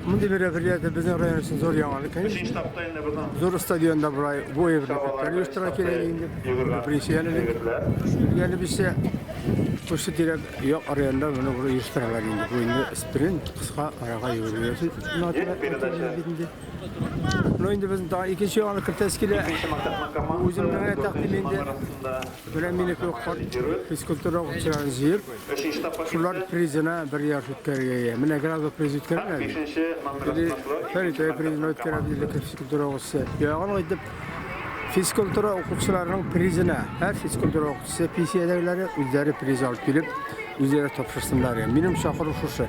Мондый мероприятие безнең район өчен зур яңалык, конечно. Зур стадионда болай бой берләштерә оештыра кирәк инде. Күбрәк әлеге. Әле бисә Шушы тирәк як районда моны бер оештыралар инде. Бу инде спринт, кыска арага йөгерү өчен. Ну инде без тагы икенче яңалык кертәс килә. Үзем генә тәкъдим инде. Менә минеке карт физкультура укучыларын җыеп, шулар призына бер ярыш үткәрергә ия. Менә Градов приз үткәргән әле. Или Фәритәй призына үткәрә белде физкультура укучысы. Ягын итеп физкультура укучыларының призына һәр физкультура укучысы пенсиядәгеләре үзләре приз алып килеп, үзләре тапшырсыннар. Минем чакыру шушы.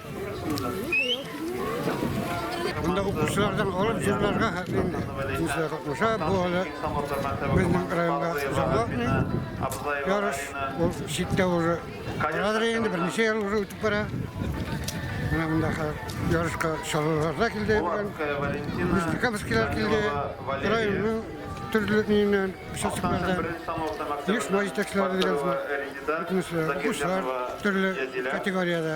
Монда укучылардан алып җырларга инде җырлар катнаша. Бу әле безнең районга заблатный ярыш. Ул читтә уже барадыр инде, берничә ел уже үтеп бара. Менә монда ярышка шалалар да килде. Нижнекамскилар килде. Районның төрле миннән участоклардан еш маҗитәчләр дигән төрле категориядә